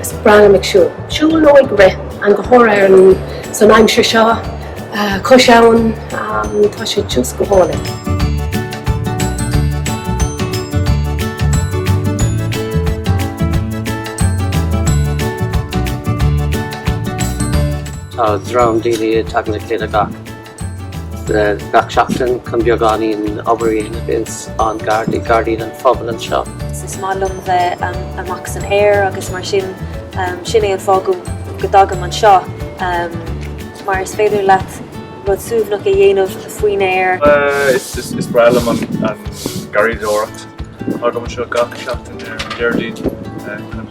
Is breá liom ag siúl. Siúl nó ag rith, go háirithe san aimsir seo cois abhann tá sé just go hálainn. Tá dream daoine ag teacht le chéile gach. Gach seachtain chun beagáinín obair a dhéanamh ins an Gairdín an Phobail anseo. Is maith liom bheith amach san aer agus mar sin, sin é an fáth go dtagaim anseo mar is féidir leat rud suaimhneach a dhéanamh faoin aer. Is breá liom an garraíodóireacht. Tagaim anseo gach seachtain ar an Déardaoin chun.